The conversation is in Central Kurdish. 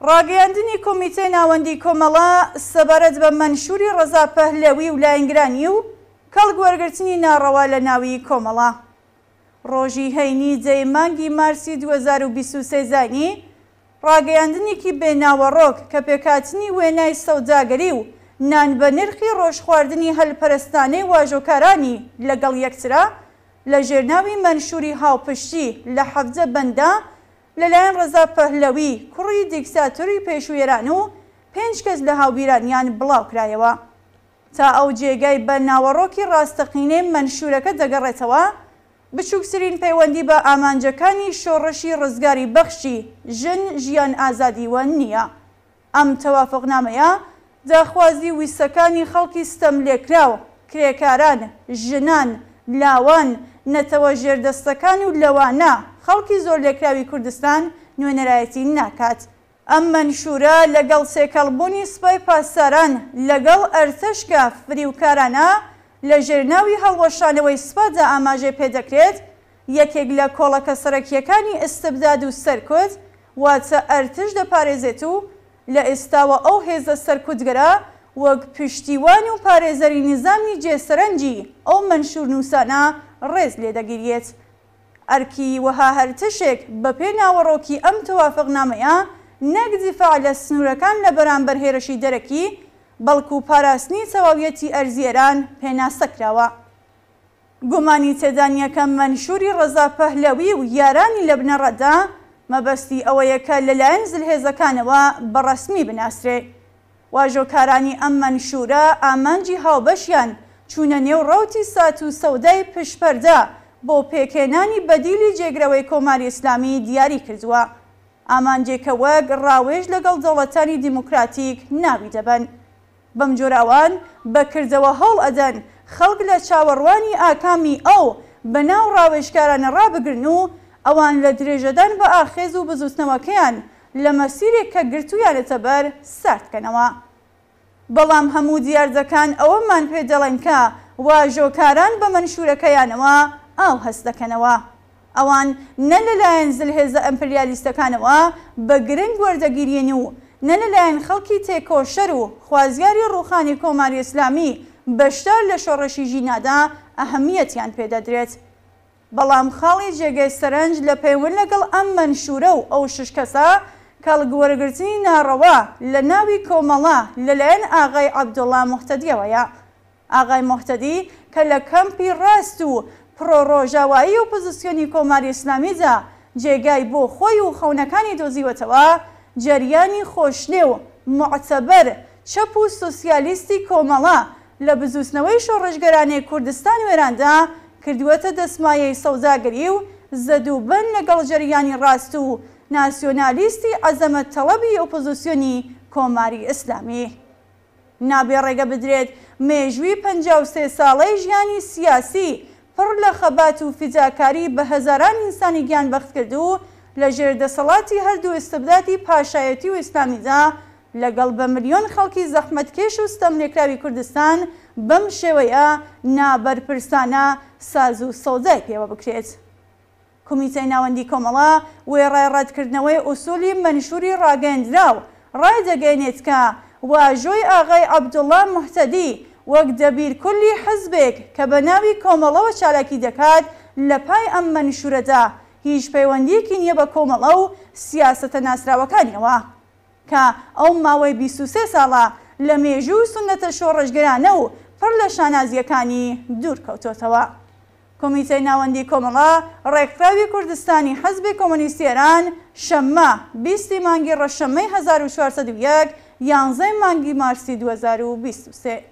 ڕاگەیاندنی کۆمیتەی ناوەندی کۆمەڵە سەبارەت بە مەنشوری ڕەزا پەهلەوی و لاینگرانی و کەڵک وەرگرتنی ناڕەوا لە ناوی کۆمەڵە ڕۆژی هەینی دەی مانگی مارسی دوو هەزار و بیست و سێ زانی ڕاگەیاندنێکی بێ ناوەڕۆک کە پێکهاتنی وێنای سەوداگەری و نان بە نرخی ڕۆژ خواردنی هەلپەرستانەی واژۆکارانی لە گەڵ یەکترە لە ژێر ناوی مەنشوری هاوپشتی لە حەڤدە بەنددا لە لایەن ڕەزا پەهلەوی کوڕی دیکتاتۆری پێشوی ئێران و پێنج کەس لە هاوبیرانیان بڵاو کرایەوە تا ئەو جێگای بە ناوەڕۆکی ڕاستەقینەی مەنشورەکە دەگەڕێتەوە بچووکترین پەیوەندی بە ئامانجەکانی شۆڕشی ڕزگاری بەخشی ژن، ژیان، ئازادیوە نییە. ئەم تەوافقنامەیە داخوازی و ویستەکانی خەڵکی ستەملێکراو، کرێکاران، ژنان، لاوان، نەتەوە ژێردەستەکان و لەوانە خەڵکی زۆرلێکراوی کوردستان نوێنەرایەتی ناکات. ئەم مەنشورە لەگەڵ تێکەڵ بوونی سپای پاسداران لەگەڵ ئەرتەش کە فریوکارانە لە ژێر ناوی هەڵوەشانەوەی سپادا ئاماژەی پێ دەکرێت، یەکێک لە کۆڵەکە سەرەکییەکانی ئیستبداد و سەرکوت واتە ئەرتش دەپارێزێت و لە ئێستاوە ئەو هێزە سەرکوتگەرە وەک پشتیوان و پارێزەری نیزامی جێ سەرنجی ئەو مەنشورنووسانە ڕێز لێ دەگیریێت. ئەرکی وەها هەرتشێک بەپێ ناوەڕۆکی ئەم تەوافقنامەیە نەک دیفاع لە سنوورەکان لە بەرامبەر هێرشی دەرەکی، بەڵکو پاراستنی تەواویەتی ئەرزی ئێران پێناسە کراوە. گومانی تێدانیە کە مەنشوری ڕەزا پەهلەوی و یارانی لە بنەڕەتدا مەبەستی ئەوەیە کە لەلایەن زلهێزەکانەوە بە ڕەسمی بناسرێ. واژۆکارانی ئەم مەنشوورە ئامانجی هاوبەشیان چوونە نێو ڕەوتی سات و سەودای پشت پەردە بۆ پێکهێنانی بەدیلی جێگرەوەی کۆماری ئیسلامی دیاری کردووە، ئامانجێکە وەک ڕاوێژ لەگەڵ دەوڵەتانی دیموکراتیک ناوی دەبەن. بەم جۆرە ئەوان بە کردەوە هەوڵ ئەدەن خەڵک لە چاوەڕوانی ئاکامی ئەو بەناو ڕاوێژکارانە ڕابگرن و ئەوان لە درێژەدان بە ئاخێز و بزووتنەوەکەیان لە مەسیرێک کە گرتوویانەتە بەر سارد کەنەوە. بەڵام هەموو دیاردەکان ئەوەمان پێ دەڵێن کە واژۆکاران بە مەنشوورەکەیانەوە ئاو هەست دەکەنەوە. ئەوان نە لە لایەن زلهێزە ئەمپریالیستەکانەوە بە گرنگ وەردەگیرێن و نە لە لایەن خەڵکی تێکۆشەر و خوازیاری ڕووخانی کۆماری ئیسلامی بەشدار لە شۆڕشی ژینادا ئەهمیەتیان پێ دەدرێت. بەڵام خاڵی جێگەی سەرنج لە پەیوەند لەگەڵ ئەم مەنشوورە و ئەو شش کەسە، کەڵک وەرگرتنی ناڕەوا لە ناوی کۆمەڵە لە لایەن ئاغای عەبدوڵا موهتەدییەوەیە. ئاغای موهتەدی کە لە کەمپی ڕاست و پڕۆ ڕۆژاوایی ئۆپۆزیسیۆنی کۆماری ئیسلامیدا جێگای بۆ خۆی و خەونەکانی دۆزیوەتەوە، جەریانی خۆشنێو، موعتەبەر، چەپ و سۆسیالیستی کۆمەڵە لە بزووتنەوەی شۆڕشگەرانێ کوردستان وێراندا کردووەتە دەسمایەی سەوداگەری و زەدوبەن لەگەڵ جەریانی ڕاست و ناسیۆنالیستی عەزەمەت تەڵەبی ئۆپۆزیسیۆنی کۆماری ئیسلامی. نابێ ڕێگە بدرێت مێژووی پەنجا و سێ ساڵەی ژیانی سیاسی پڕ لە خەبات و فیداکاری بە هەزاران ئینسانی گیانبەختکردوو لە ژێر دەسەڵاتی هەردوو ئیستبدادی پاشایەتی و ئیسلامیدا لەگەڵ بە ملیۆن خەڵکی زەحمەتکێش و ستەملێکراوی کوردستان بەم شێوەیە نابەرپرسانە ساز و سەوزای پێوە بکرێت. کومیتەی ناوەندی کۆمەڵە وێڕای ڕەتکردنەوەی ئوسولی مەنشوری ڕاگەیەندراو، ڕایدەگەیەنێت کە واژۆی ئاغای عەبدوڵا موهتەدی وەک دەبیر کولی حزبێک کە بە ناوی کۆمەڵەوە چالاکی دەکات لە پای ئەم مەنشورەدا هیچ پەیوەندیەکی نیە بە کۆمەڵە و سیاسەتە ناسراوەکانیەوە. کە ئەو ماوەی بیست و سێ ساڵە لە مێژوو و سوننەتە شۆڕشگێرانە و پڕ لە شانازییەکانی دوور کەوتۆتەوە. کومیتەی ناوەندی کۆمەڵە ڕێکخراوی کوردستانی حزبی کۆمۆنیستی ئێران شەممە بیست ی مانگی ڕەشەممەی هەزار و چوار سەد و یەک، یانزەی مانگی مارسی دوو هەزار و بیست و سێ،